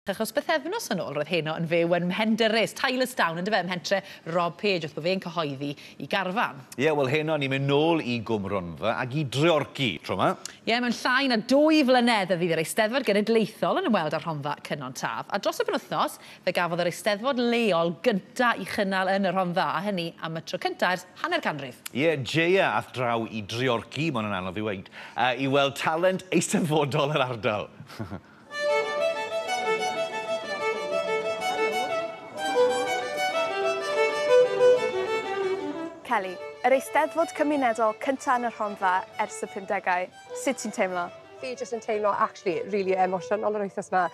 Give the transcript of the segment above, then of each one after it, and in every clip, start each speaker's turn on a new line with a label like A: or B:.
A: Achos bythefnos yn ôl roedd heno yn fyw yn Mhendyrys, Tylesdown, yndyfe, ym mhentre Rob Page wrth bo fe'n cyhoeddi 'i garfan. Ie, wel heno ni'n mynd
B: nôl i Gwm Rhondda ac i Dreorci, tro 'ma. Ie, mewn llai na
A: dwy flynedd fe fydd yr Eisteddfod Genedlaethol yn ymweld â Rhondda Cynon Taf, a dros y penwythnos fe gafodd yr Eisteddfod leol gynta 'i chynnal yn y Rhondda, a hynny am y tro cynta ers hanner canrif. Ie, Jeia
B: ath draw i Dreorci, ma' hwn yn anodd i weud, i weld talent eisteddfodol yr ardal.
C: Kelly, yr Eisteddfod Cymunedol cynta' yn y Rhondda ers y pumdegau. Sut ti'n teimlo? Fi jyst yn teimlo
D: actually rili emosiynol yr wythnos 'ma.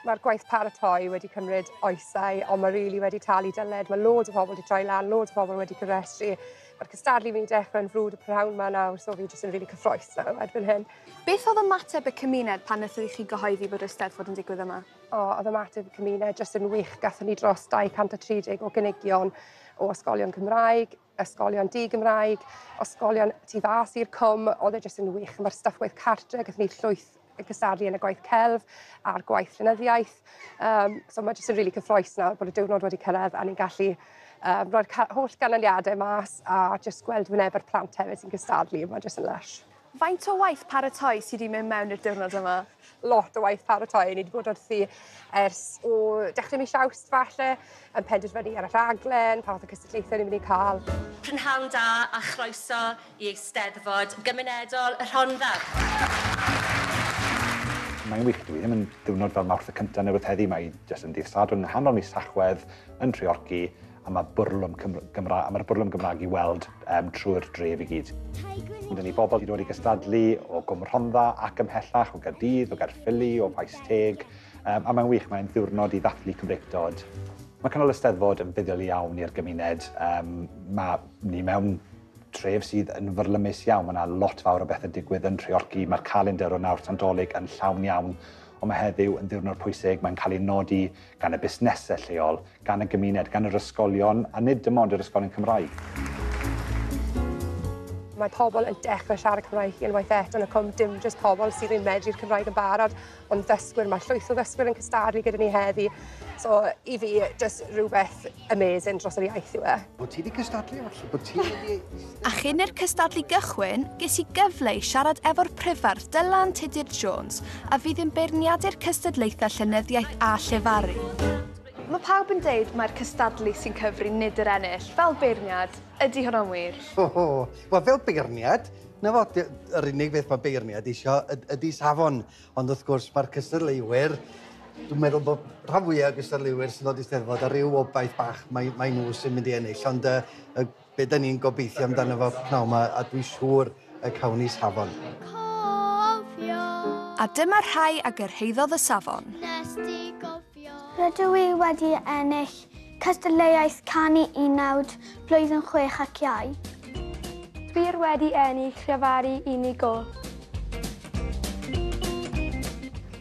D: Ma'r gwaith paratoi wedi cymryd oesau on' ma' rili wedi talu dyled ma' loads o pobol 'di troi lan loads o pobol wedi cofrestru Mae'r cystadlu fi'n dechrau'n frwd y prynhawn ma nawr, so fi jyst yn rili cyffroes nawr erbyn hyn. Beth oedd ymateb
C: y cymuned pan wnaethon i chi gyhoeddi bod Eisteddfod yn digwydd yma? O, oedd ymateb y
D: cymuned jyst yn wych. Gatho ni dros 230 o gynigion o ysgolion Cymraeg, ysgolion di-Gymraeg, ysgolion tu fas i'r cwm. Oedd e jyst yn wych. Mae'r staff gwaith cartre, gatho ni llwyth yn cystadlu yn y gwaith celf a'r gwaith llenyddiaeth. Um, so mae jyst yn rili really cyffroes nawr bod y diwrnod wedi cyrraedd a ni'n gallu um, rhoi'r holl ganlyniadau mas a jyst gweld wyneb yr plant hefyd sy'n cystadlu. Mae jyst yn lush. Faint o waith
C: paratoi sydd wedi mynd mewn i'r diwrnod yma? Lot o waith
D: paratoi. Ni wedi bod wrthi ers o dechrau mis awst falle, yn penderfynu ar y rhaglen, pa fath o cystadlaethau ni'n mynd i cael. Prynhawn da
E: a chroeso i Eisteddfod Gymunedol y Rhondda.
F: Mae'n wych, dyw hi ddim yn diwrnod fel Mawrth y Cynta neu rywbeth heddi, mae hi jyst yn ddydd Sadwrn nghanol mis Tachwedd yn Nhreorci a mae bwrlwm Cymr Gymra a mae'r bwrlwm Gymraeg i weld um, trwy'r dref i gyd. Mae gen i bobl wedi dod i gystadlu o Gwm Rhondda ac ymhellach o Gaerdydd, o Gaerffili, o Faes Teg, um, a mae'n wych, mae'n ddiwrnod i ddathlu Cymreictod. Mae cynnal y Steddfod yn fuddiol iawn i'r gymuned. Um, mae ni mewn Tref sydd yn fyrlymus iawn, mae 'na lot fawr o bethe'n digwydd yn Nhreorci, mae'r calendr o nawr tan Dolig yn llawn iawn, ond mae heddiw yn ddiwrnod pwysig, mae'n cael ei nodi gan y busnesau lleol, gan y gymuned, gan yr ysgolion, a nid dim ond yr ysgolion Cymraeg.
D: Mae pobl yn dechrau siarad Cymraeg unwaith eto yn y Cwm, dim jyst pobl sydd yn medru'r Cymraeg yn barod, Ond ddysgwyr, mae llwyth o ddysgwyr yn cystadlu gyda ni heddi. So i fi, just rhywbeth amazing dros yr iaith yw e. Bod ti wedi cystadlu,
G: falle bod ti wedi... A chyn i'r
C: cystadlu gychwyn, ges i gyfle i siarad efo'r prifardd Dylan Tudur Jones a fydd yn beirniadu'r cystadlaethau llenyddiaeth a llefaru. Mae pawb yn deud mai'r cystadlu sy'n cyfri nid yr ennill, fel beirniad. Ydy hwnna'n wir? O! Wel, fel
G: beirniad, 'na fo, dy- yr unig beth mae beirniad isio yd- ydy safon. Ond wrth gwrs, mae'r cystadleuwyr, dwi'n meddwl bod rhan fwyaf o'r gystadleuwyr sy'n dod i Steddfod ar ryw obaith bach mai, mai nhw sy'n mynd i ennill. Ond yy, y, be da ni'n gobeithio amdano fo pnawn 'ma, a dwi'n siŵr y cownies hafon.
C: A dyma rhai a gyrhaeddodd y safon.
H: Rydw i wedi ennill cystadleuaeth canu unawd blwyddyn chwech ac iau. Dwi
I: wedi ennill llefaru unigol.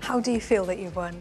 C: How do you feel that you've won?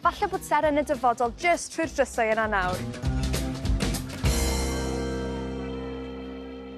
C: Falle bod Seren yn y dyfodol jyst trwy'r drysau yna nawr.